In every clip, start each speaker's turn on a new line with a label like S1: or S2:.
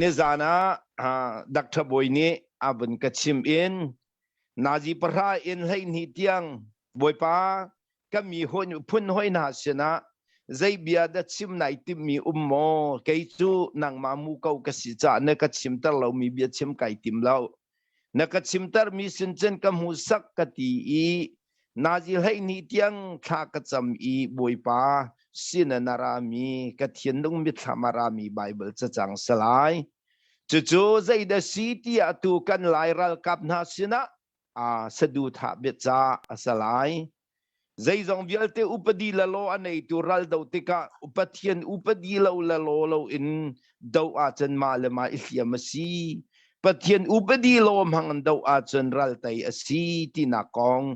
S1: Nizan ah Doctor Bawi nih a vun ka chim in nazi pahra in hleihnih tiang Bawipa ka mi hawi phun hawi hna sinah zei bia dah chim nai timmi um maw? Kei cu nangmah mu ko ka si caah na ka chimter lomi bia chim kai tim lo. na ka chimtermi sin cun ka hmuhsak ka ti i nazi hleihnih tiang thla ka cam i bawipa sin na rami ka thinlung mitthlam a rami Bible cacang salai cucu zeidah si tiah tu kan lai ralkap hna sinah a saduthah bia ca a salai Zeizong vialte upadi lalaw a neitu ral do tikah upathian upadi lo lalaw loin do ahcun mah le mah i hliam a si. Pathian upadi lo hmang do ahcun ral tei a si tinak kong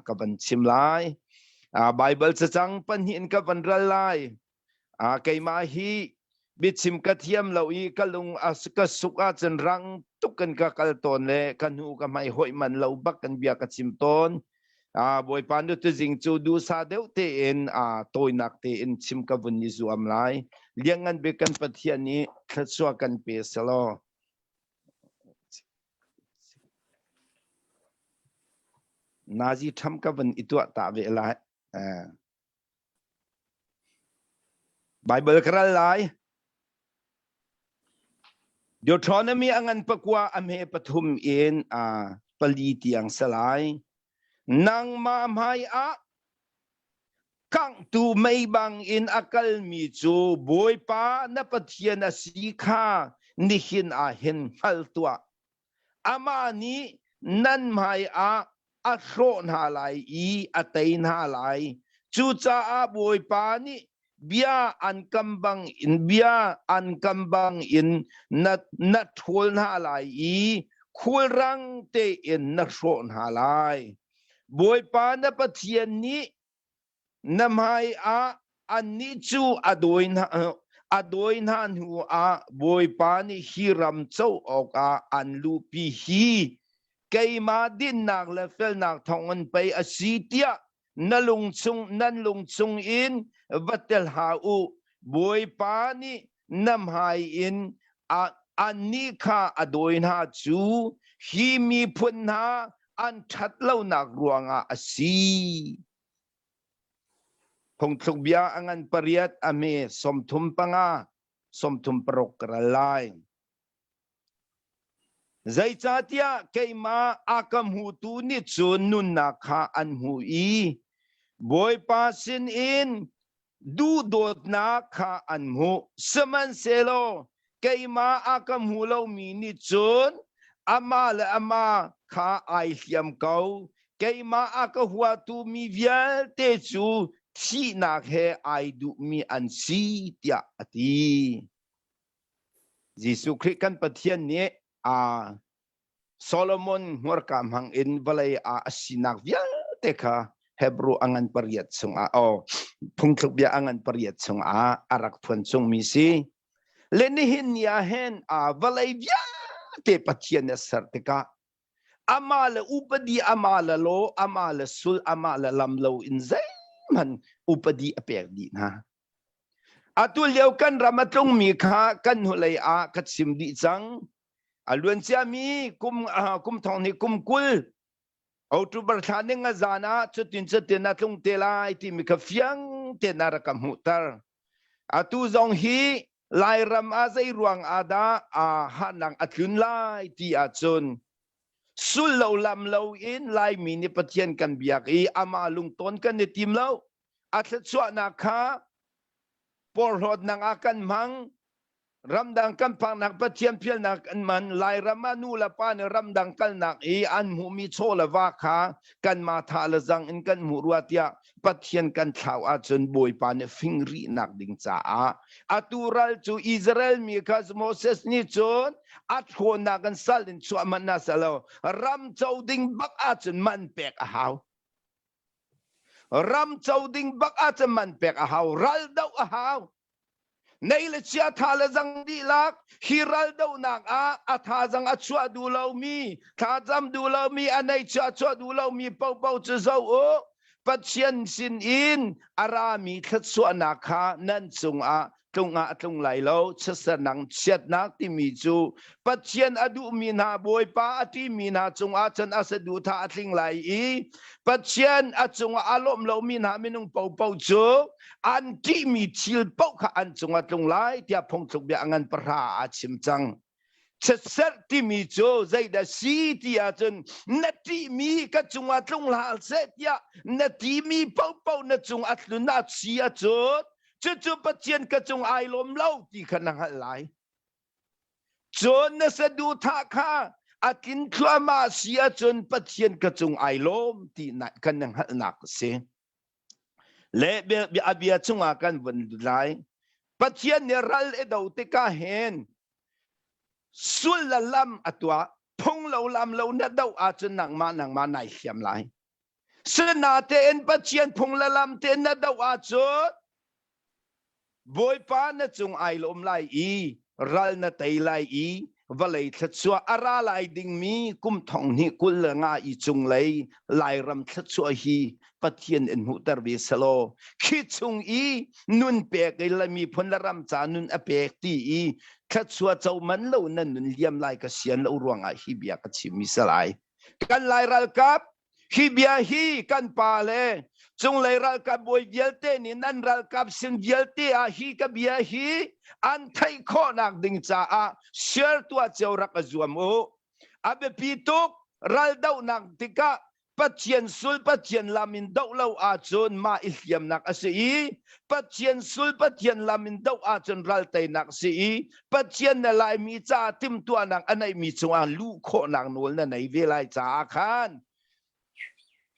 S1: ka van chim lai. Baibal cacang pahnih in ka van ral lai. a keimah hi biachim ka thiam lo i ka lung a ka suk ahcun rang tuk kan ka kal tawn le ka hnu ka hmai hoih man lo bak kan bia ka chim tawn a bawipa nu tuzing cu dusa deuh tein a tawinak tein chim ka vun ni zuam lai liangan be kan pathian i thlasua kan pe selo nazi tham ka vun ituah ta ve lai Baibal ka ral lai. Deuteronomy a ngan pakua a hme pathum in uh, pali tiang sa lai. Nangmah hmai ah kangtu mei bang in a kalmi cu Bawipa na Pathian a si kha nihin ah hin hngal tuah. Amah nih nan hmaiah a hrawh hna lai i a tei hna lai. Cucaah Bawipa nih bia an kam bangin bia an kam bangin na na ṭhawl hna lai i khulrang tein na hrawh hna lai. Bawipa na Pathian nih Na hmaiah annih cu a dawi hna a dawi hna hnuah Bawipa nih hi ram co awkah an luhpi hi keimah dinnak le felnak thawngin pei a si tiah na lung chung nan lung chung in va tel hlah u Bawipa nih na hmai in annih kha a dawi hna cu hi miphun hna an ṭhat lonak ruangah a si. Phungthluk bia a ngan pariat a me sawmthum panga, sawmthum paruk ka ral lai. Zeicahtiah keimah a ka hmutu nih cun nunnak kha an hmuh i Bawipa sinin duhdawtnak kha an hmuh. Sihmanhsehlaw keimah a ka hmu lomi nih cun amah le amah kha ai hliam ko. Keimah a ka huatu mi vialte cu thihnak he ai duhmi an si, tiah a ti. Jesuh Khrih kan Pathian nih aa Solomon hmurka hmangin vawlei ah a sinak vialte kha Hebrew a ngan pariat chungah o phungthluk bia a ngan pariat chungah a rak phuan chungmi si le nihin ni ah hen a vawlei viate Pathian na ser tikah ama le upadi ama le lo ama le sul ama le lam lo in zeihman upadi a pek dih hna Atulio kan ram a tlungmi kha kan hnulei ah ka chim dih cang. A luanciami kum uh, kum thong hnih kum kul October thla ning a zan ah cutin cutin a tlung te lai timi kha fiang tein a rak ka hmuhter. Atu zong hi Lairam ah zei ruang ah dah aa hahnang a tlun lai ti ahcun sul lo lam lo in Laimi nih Pathian kan biak i amah lungton kan i tim lo. a thluachuahnak kha porhlawtnak ah kan hmang ramdang kan phaknak pathian phialnak an man lairam ah nu le pa nih ramdang kalnak i an hmuhmi chaw le va kha kan ma tha le zang in kan hmuh rua tiah pathian kan thlau ahcun bawipa nih fingrihnak ding caah atu ral cu Israel mi kha Moses nih cun a thlawnnak in sal in chuah man na salo ram co ding bak ahcun man pek a hau Ram co ding bak ahcun man pek a hau. Raldoh a hau. Nei le chia tha le zang dihlak hi raldohnak ah a thazang a chuah duh lomi thlacam duh lomi a nei chuah chuah duh lomi popo cu zo u Pathian sin in a rami thluachuahnak kha nan cungah tlung ah tlung lai lo chiatsernak chiatnak timi cu pathian a duhmi hna bawipa a ṭimi hna cungah cun a saduhthah a tling lai i pathian a cungah a lawmh lomi hna minung popo cu an ṭihmi thil paoh kha an cungah tlung lai tiah phungthluk bia a ngan pahra a chim cang Setserh timi cu zeidah si ti ahcun na ṭihmi ka cungah tlung hlah seh tiah na timi paohpaoh na cung a tlun a si a cut cucu Pathian ka cung ai lawm lo ti kha na hngalh lai. Cun na saduhthah kha a tlin thluahmah si ahcun Pathian ka cung ai lawm ti kan na hngalhnak a si. Le a bia chungah kan vun lut lai. Pathian nih ral i do tikah hin sulla lam a tuah phunglo lam lo na do ahcun nangmah nangmah nai hliam lai. Sinatein Pathian phung le lam te na do ahcun Bawipa na cung ai lawm lai i ral na tei lai i vawlei thluachuah a ra lai dingmi kum thong hnih kul le nga i cunglei Lairam thluachuah hi Pathian in hmuhter ve selaw khi chung i nun pek i la miphun le ram ca nun a pek ti i thluachuah co man lo na nun liam lai ka sian lo ruangah hi bia ka chim mi salai kan lai ralkap Hi bia hi kan pa le cunglei ralkap bawi vialte nih nan ralkap sin vialte ah hi ka bia hi an theih khawhnak ding caah share tuah cio rak a zuam u. A biapi tuk raldohnak tikah Pathian sul Pathian lam in doh lo ahcun mah i hliamnak a si i Pathian sul Pathian lam in doh ahcun ral teinak a si i Pathian na laimi caah timtuahnak a neihmi cungah luh khawhnak nawl na nei ve lai caah khan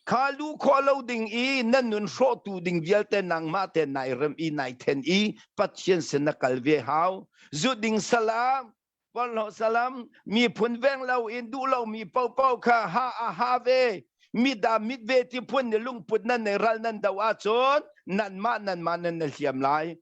S1: kha lu khawh lo ding i nan nun hrawhtu ding vialte nangmah te nai rem i nai then i Pathian sin na kal ve hau zut ding salam Porlo salam mi phun veng lo in duh lo mi popo kha ha a ha ve mi da mit ve ti phun ni lungput nan nei ral nan do a cun nan ma nan ma nan na hliam lai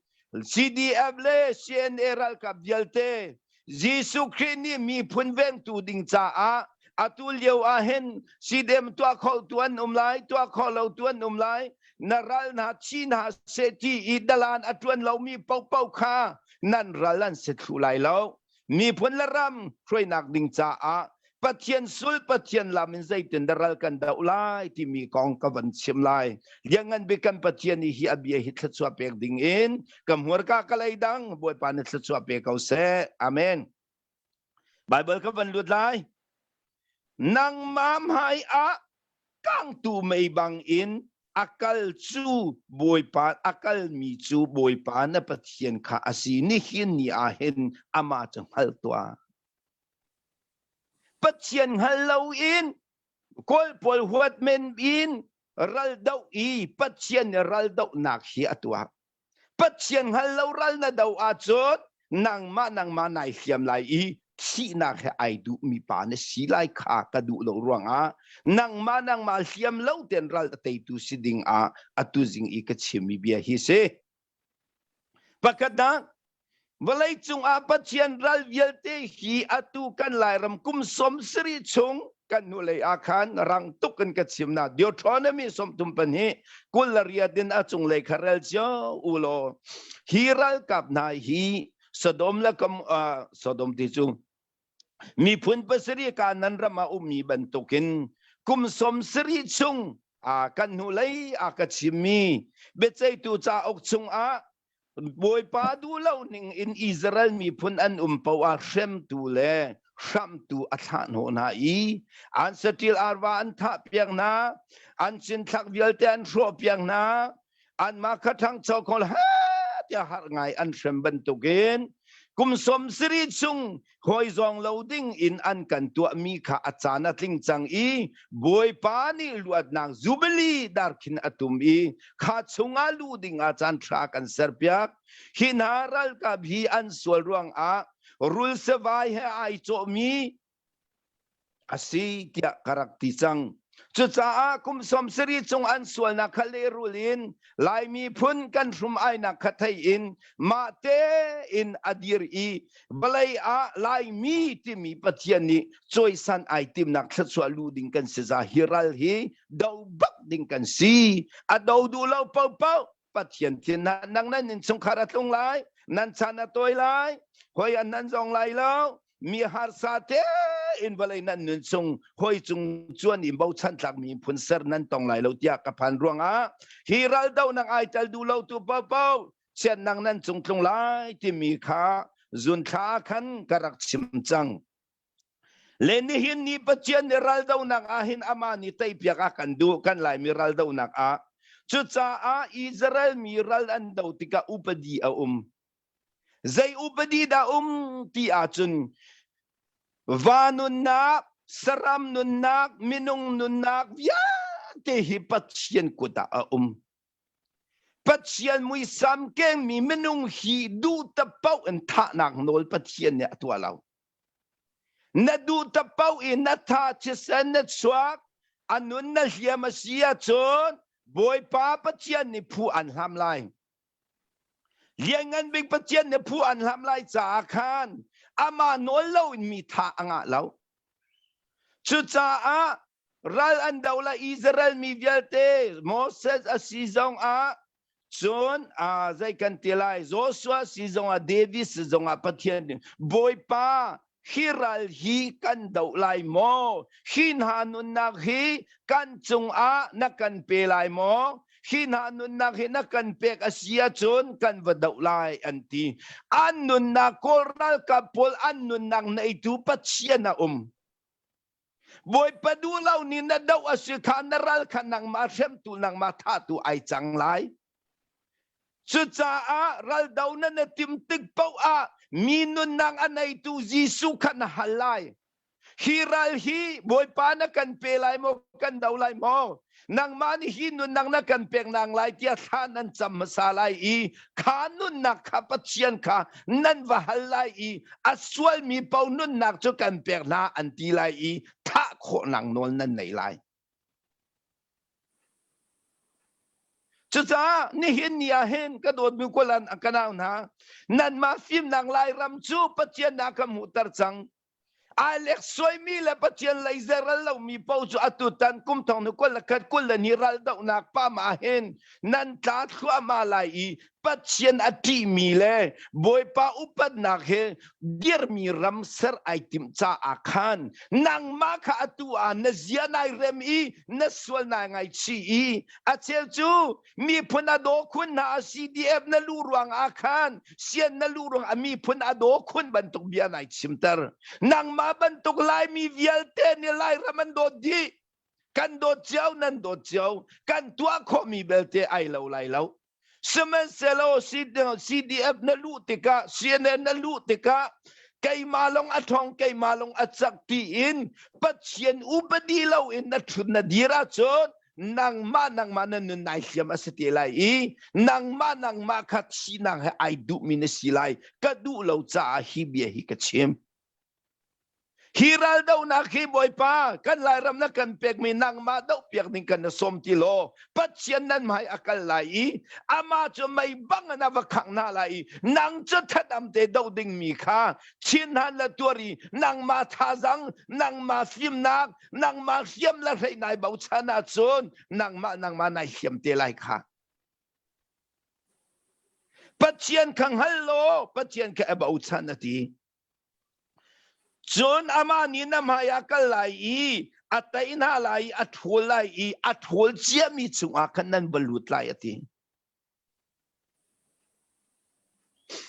S1: CDF le CNA ralkap vialte Jesuh Khrih nih miphun vengtu ding caah atu lio ah hin CDM tuah kho tu an um lai tuah kho lo tu an um lai na ral hna chin hna se ti i dalan a tuan lomi popo kha nan ral an si thlu lai lo miphun le ram hruainak ding caah Pathian sul Pathian lam in zeitin da ral kan do lai timi kong ka van chim lai liangan bi kan Pathian hi a bia hi thluchua pek ding in ka hmuar ka ka lei dang bawipa ni thluchua pe ko se amen Bible ka van lut lai Nangmah hmaiah kangtu mei bangin a kal cu Bawipa a kalmi cu Bawipa na Pathian kha a si nihin ni ah hin amah cu hngal tuah. Pathian hngal loin kawlpawl huat men in raldoh i Pathian nih raldohnak hi a tuah. Pathian hngal lo ral na do ahcun nangmah nangmah nai hliam lai i thihnak he ai duhmi pa na si lai kha ka duh lo ruangah nangmah nangmah hliam lo ten ral a teitu si ding ah atu zing i ka chimmi bia hi si. Pakhatnak Vawlei cungah Pathian ral vialte hi atu kan Lairam kum som siri chung kan hnulei ah khan rang tuk in ka chim na Deuteronomy somthum pan hi kul la riat in a cunglei kha rel cio u law hi ralkap hna hi Sodom le kam uh, Sodom ti cu miphun pasarih ka nan ram ah ummi bantukin kum sawm sarih chung kan hnulei a ka chimmi biaceihtu cauk chungah Bawipa duhlo ning in Israel miphun an um poah hremtu le hramtu a thlah hnu hna i an satil arwa an thah piak hna an cinthlak vialte an hrawh piak hna anmah kha ṭhangcho khawl ha tiah har ngai an hrem bantukin kum sawm siri chung hawi zawng lo ding in an kan tuahmi kha a caan a tling cang i bawipa nih luatnak zubili dar khin a tum i kha chungah lu dingah caan ṭha kan serpiak hi hna ralkap hi an sual ruangah rul savai he ai cawhmi a si tiah ka rak ti cang. Cucaah kum sawmsarih chung an sualnak kha lehrul in Lai miphun kan hrum ainak kha thei in mah tein a dir i vawlei ah Laimi timi Pathian nih cawisan ai timnak thluachuah lu ding kan si za hi ral hi do bak ding kan si a do duh lo popoh Pathian thin ah nang nan innchungkhar a tlung lai nan chan a tawi lai hoi an nan zong lai lo mi harsa te in vawlei nan nun chung hoi cung chuan in bochan tlak mi phun ser nan tong lai lo tiah ka phan ruangah hi ral do nang ai tel du lo tu po po chian nang nan cung tlung lai timi kha zun thla khan ka rak chim cang Le nihin ni Pathian nih raldonak ah hin amah nih teipiak a kan duh kan Laimi raldonak ah cucaah Israel mi ral an do tikah upadi a um. Zei upadi dah um ti ahcun va nunnak, saram nunnak, minung nunnak vialte hi Pathian kut ah a um. Pathian muisam kengmi minung hi duh ta poh in thahnak nawl Pathian nih a tuah lo. Na duhtak paoh i na tha thisen na chuak a nun na hliam a si ahcun Bawipa Pathian nih phu an hlam lai. Lianngan Bik Pathian nih phu an hlam lai caah khan amah nawl lo in mi tha a ngah lo. Cucaah ral an do la Israel mi vialte Moses a si zong ah Cun zei kan ti lai Joshua si zongah David si zongah Pathian Bawipa hi ral hi kan do lai maw hi hna nunnak hi kan cungah na kan pe lai maw hi hna nunnak hi na kan pek a si ahcun kan va doh lai an ti an nunnak kawl ralkap pawl an nunnak neitu pathian a um Bawipa duh lo ni na doh a si kha na ral kha nangmah hremtu nangmah thahtu ai cang lai. Cucaah raldo na na tim tik paoh ah mi nunnak a neitu Jesuh kha na hal lai. Hi ral hi Bawipa na kan pe lai maw kan do lai maw? nangmah nih hi nunnak na kan peknak lai tiah thla nan cam hmasa lai i kha nunnak kha pathian kha nan va hal lai i a sualmi po nunnak cu kan pek hna an ti lai i thah khawhnak nawl nan nei lai Cucaah nihin ni ah hin ka dawtmi kualan a kanau hna nanmah fimnak lai ram cu Pathian na ka hmuhter cang Aa lek suaimi le Pathian lei ze ral lomi paoh cu atu tan kum thong nu kul le khat kul le ni ral dohnak pa ma hin nan tla thluahmah lai i Pathian a ṭihmi le Bawipa upatnak he dirmi ram ser ai timh caah khan nangmah kha atu ah na zia nai rem i na sual nai ngaichih i a cheu cu miphun a daw khun hna a CDF na lu ruang ah khan sian na lu ruang a miphun a daw khun bantuk bia nai chimter nangmah bantuk laimi vialte ni lairam an dawt dih kan dawt cio nan dawt cio kan tuah khawhmi belte ai lo lai lo sihmanhsehlaw CDF na luh tikah CNN na luh tikah keimah long a thong keimah long a cak tiin pathian upadi lo in na thun na dir ahcun nangmah nangmah na nun nai hliam a si te lai i nangmah nangmah kha sinang he ai duhmi na si lai ka duh lo caah hi bia hi ka chim hi raldohnak hi bawipa kan lairam na kan pekmi nangmah doh piak ding kan na som ti law pathian nan hmai a kal lai i ama cu mei bang na va khang na lai i nang cu thatam te do ding mi kha chin han la tuari nangmah thazang nangmah fimnak nangmah hriam le hlei nai bochan ahcun nangmah nangmah nai hiam te lai kha pathian kha hngal law pathian kha a bochan a ti cun amah nih na hmai a kal lai i a tei hna lai i a ṭhul lai i a ṭhul ciami cungah khan nan va lut lai a ti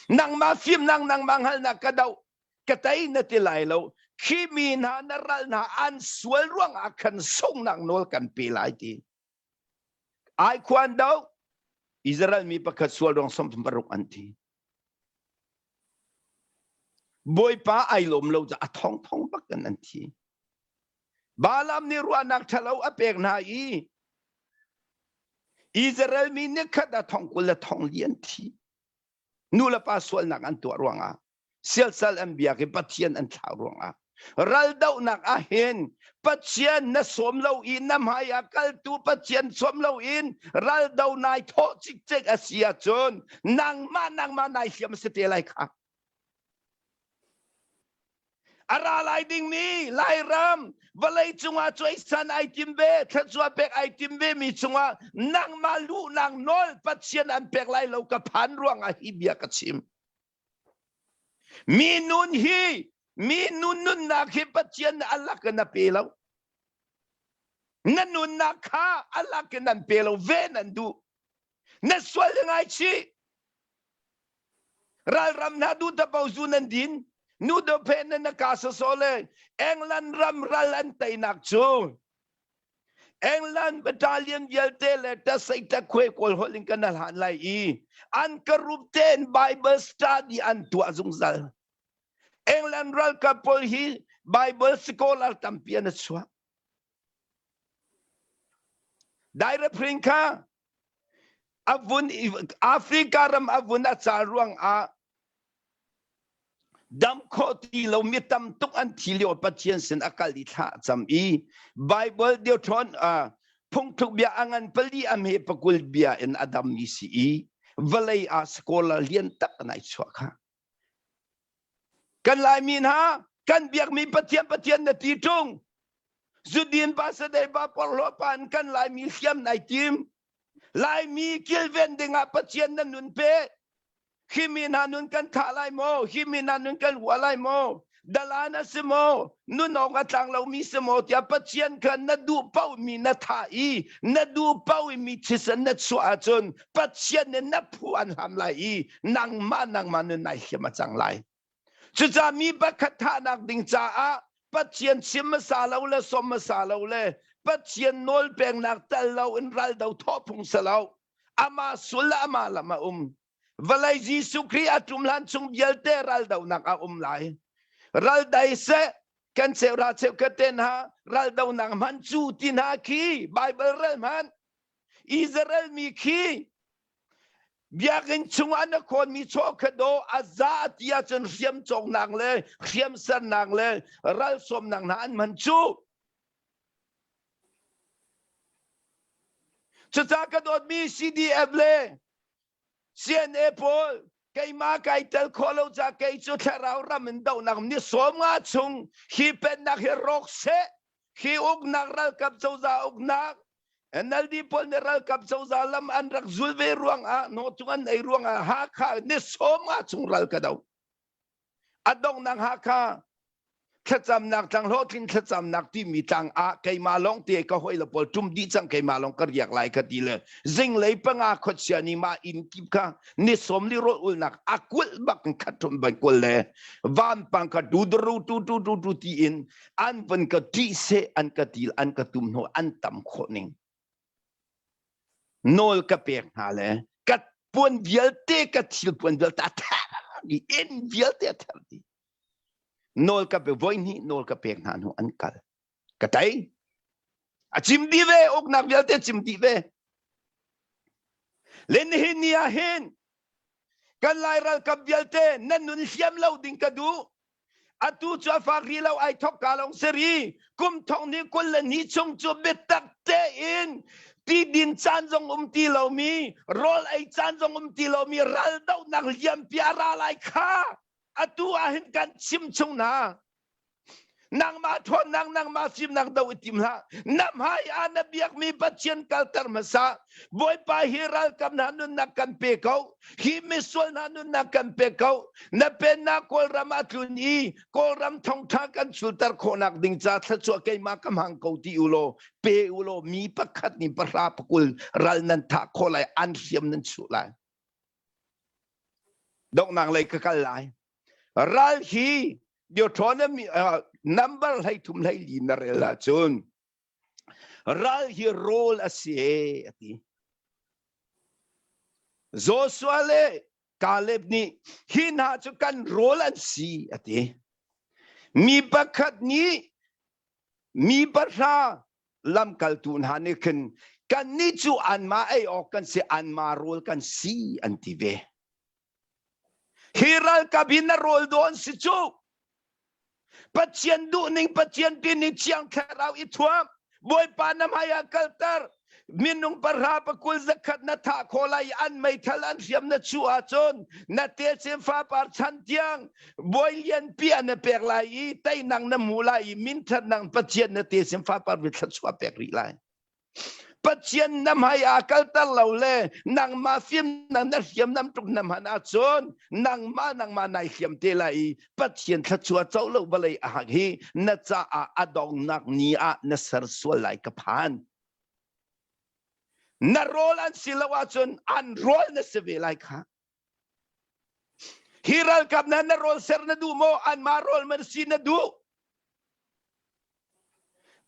S1: Nangmah fimnak nangmah hngalhnak ka doh, ka tei na ti lai lo. Khi mi hna na ral hna an sual ruangah khan sunghnak nawl kan pe lai ti. Ai khuan do Israel mi pakhat sual ruang sawm paruk an thi. Bawipa ai lawm lo caah a thongthong bak in an thi. Balaam nih ruahnak ṭhalo a pek hna i Israel mi nih khat a thong kul le thong li an thi. Nu le pa sualnak an tuah ruangah siasal an biak i Pathian an thlah ruangah raldohnak ah hin pathian na sawm lo i na hmai ah kaltu pathian sawm lo in raldo nai thawh cikcek a si ahcun nangmah nangmah nai hliam a si te lai kha a ra lai ding mi lairam vawlei cungah cuaisan ai tim ve thluachuah pek ai tim ve mi cungah nangmah lu nang nawl pathian an pek lai lo ka phan ruang ah hi bia ka chim Mi nun hi mi nun nunnak hi Pathian nih a lak in a pe lo. Na nunnak kha a lak in an pe lo ve nan duh. Na sual le ngaichih. Ralram hna duh tapo zu nan din. Nu do phe nan na ka soso le England ram ral an teinak cu England battalion vialte le tasei takwe kawl holh in kan hlan lai i an corrupted Bible study an tuah zungzal. England ralkap pawl hi Bible scholar tampi an chuak. Direct print kha A vun Africa ram a vun a cal ruangah damh khawh ti lo mi tam tuk an thi lio Pathian sin a kal i thlah cam i Bible Deuteron uh, phungthluk bia a ngan pali a me pakul bia in a dam mi si i vawlei a scholar lian tak nai chuah kha Kan Laimi hna, kan biakmi Pathian Pathian na ti ṭung. Zudin Pastor Deba Porhlaw pa in kan Laimi hriam nai tim. Laimi kilven dingah Pathian na nun pe. Khi mi hna nun kan thlah lai maw? Khi mi hna nun kan hua lai maw? dalan a si maw nunawng a tlang lomi si maw tiah pathian kha na duh paohmi na thah i na duh paohmi thisen na chuah ahcun pathian nih na phu an ham lai i nangmah nangmah nun nai hlim a cang lai cucah mi pakhat thahnak ding caah pathian chim hmasa lo le som hmasa lo le pathian nawl pengnak tal lo in ral do thawh phung sa lo amah sul le amah lam a um Vawlei Jesuh Khrih a ṭum hlan chung vialte raldonak a um lai. Ral dai seh kan cheu ra cheu ka te hna raldonak hman cu ti hna khi Bible ral hman Israel mi khi biakinn chung an a khonmi chawkhato a za ti ahcun hriam cawknak le hriam sernak le ral sawmnak hna an hman cu cucah ka dawtmi CDF le CNA pawl keimah kai tel khawh lo ca kei cu thlarau ram in dohnak ni sawm nga chung hi pennak hi rawk seh khi uknak ralkap cozah uknak NLD pawl nih ralkap cozah lam an rak zul ve ruang ah no chung an ei ruang ah Hakha ni sawm nga chung ral ka do A donghnak Hakha thlacamnak tlang hlawhtling thlacamnak timi tlang ah keimah lawng te ka hoi le pawl tum dih cang keimah lawng ka riak lai ka ti le zinglei panga khuachia ni ma inn kip kha ni sawm li rawt ulnak a kulh bak in khat thum ban kul le vanpang kha du dru tu tu tu tu ti in an van ka ṭih se an ka til an ka tum hnu an tam khawh ning Nawl ka pek hna le ka puan vialte ka thil puan vialte a ther dih inn vialte a ther dih nawl ka pe voi hnih nawl ka pek hna hnu an kal ka tei a cim dih ve uknak vialte cim dih ve le nihin ni ah hin kan lai ralkap vialte nan nun hriam lo ding ka duh atu cu a fak rih lo ai thok ka lawng si ri kum thong ni kul le ni chung cu biatak tein ti din caan zong um ti lomi rawl ei caan zong um ti lomi ral dohnak liampi a ra lai kha atu ah hin kan chim chung na nangmah ṭhawnnak nangmah fimnak do i tim hlah nam hai a na biakmi pathian kalter hmasa bawipa hi ralkam hna nunnak kan pe ko Hi misual hna nunnak kan pe ko. Na pennak Kawlram a tlun i Kawlram thongtha kan chulter khawhnak ding ca thluachuah keimah ka hmang ko ti u law pe u law mi pakhat nih pahra pakul ral nan thah khawh lai an hriam nan chuh lai. Dongnang lei ka kal lai. Ral hi biothon number hlei thum hlei li na rel ahcun Ral hi rawl a si a ti. Joshua le Caleb nih hi hna cu kan rawl an si a ti. Mi pakhat nih mi pahra lamkaltu hna nih khin kannih cu anmah ei awk kan si anmah rawl kan si an ti ve. Hi ralkap hi na rawl daw an si cu. Pathian duhning Pathian tin i thiang thlarau i thuam. Bawipa na hmai ah kalter. Minung pahra pakul zakhat na thah khawh lai an meithal an hriam na chu ahcun na techem fapar chan tiang bawi lianpi an na pek lai i teinang na hmu lai i minthat nang Pathian na techem fapar vi thluachuah pek rih lai. Pathian na hmai ah kalter lo le nangmah fimnak na hriamnam tuk na hman ahcun nangmah nangmah nai hriam te lai i Pathian thluachuah co lo vawlei a hak hi na caah a dongnak ni ah na ser sual lai ka phan. Na rawl an si lo ahcun an rawl na si ve lai kha. Hi ralkap hna na rawl ser na duh maw? Anmah rawl man si na duh?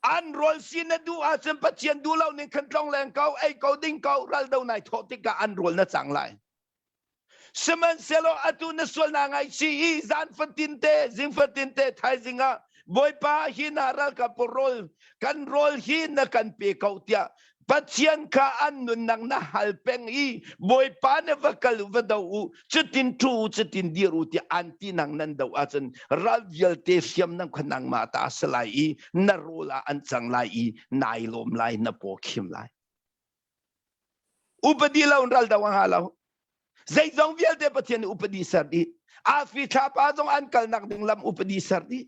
S1: An rawl si na duh ahcun Pathian duh lo ning khan tlong leng ko, ei ko ding ko, ral do nai thawh tikah an rawl na cang lai. Sihmanhsehlaw atu na sual na ngaichi i zan fatin te, zing fatin te thaizing ah Bawipa hi na ralkap rawl kan rawl hi na kan pe ko tiah Pathian kha an nunnak na hal peng i Bawipa ne va kal va do u cutin thu u cutin dir u tiah an ti nang nan do ahcun ral vialte hriam nan kha nangmah ta a si lai i na rawl ah an cang lai i nai lawm lai na paw khim lai upadi lo ral do ha lo zeizong vialte pathian nih upadi ser dih afi thlapa zong an kalnak ding lam upadi ser dih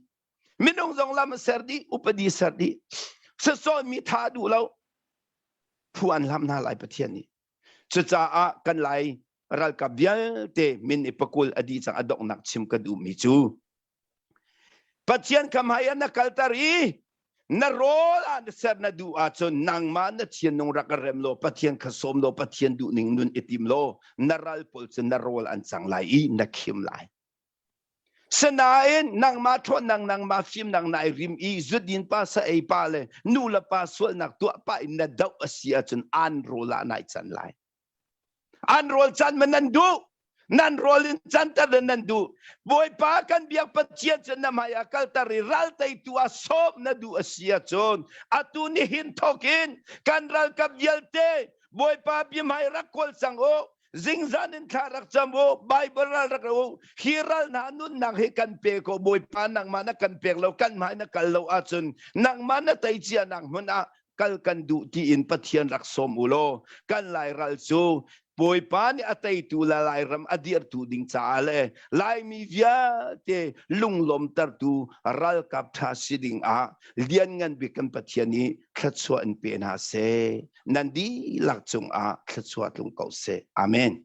S1: minung zong lam a ser dih upadi ser dih sasawmi tha duh lo phu an lam hna lai pathian nih cucaah kan lai ralkap vialte min i pakul adi cang adonghnak chim ka duhmi cu pathian kam hai na kaltar i na rawl ah na ser na duh ahcun nangmah na thianung rak rem law pathian kha sawm law pathian duh ning nun i tim law na ral pawl cu na rawl an cang lai i na khim lai Sinain nangmah ṭhawnnak nangmah fimnak na i rim i zudin pa sa ei pa le nu le pa sualnak tuah pah in na doh a si ahcun an rawl ah nai can lai. An rawl can ma nan duh? Nan rawl in canter le nan duh. Bawipa kan biak Pathian cu na hmai ah kalter i ral teitu ah sawm na duh a si ahcun atu nihin thawkin kan ralkap vialte Bawipa bihmai rak kawl cang u. Zingzan in thla rak cam u, Bible ral rak ra u. Hi ral hna nunnak hi kan pe ko, Bawipa nangmah na kan pek lo, kan hmai na kal lo ahcun nangmah na tei cianak hmun ah kal kan duh tiin Pathian rak sawm u law kan lairal cu Bawipa nih a teitu le Lairam a dirtu ding caah le Laimi vialte lunglawmtertu ralkap ṭha si ding ah Lianngan Bik kan Pathian i thluachuah in pe hna seh. nan dihlak cungah thluachuah tlung ko seh. Amen.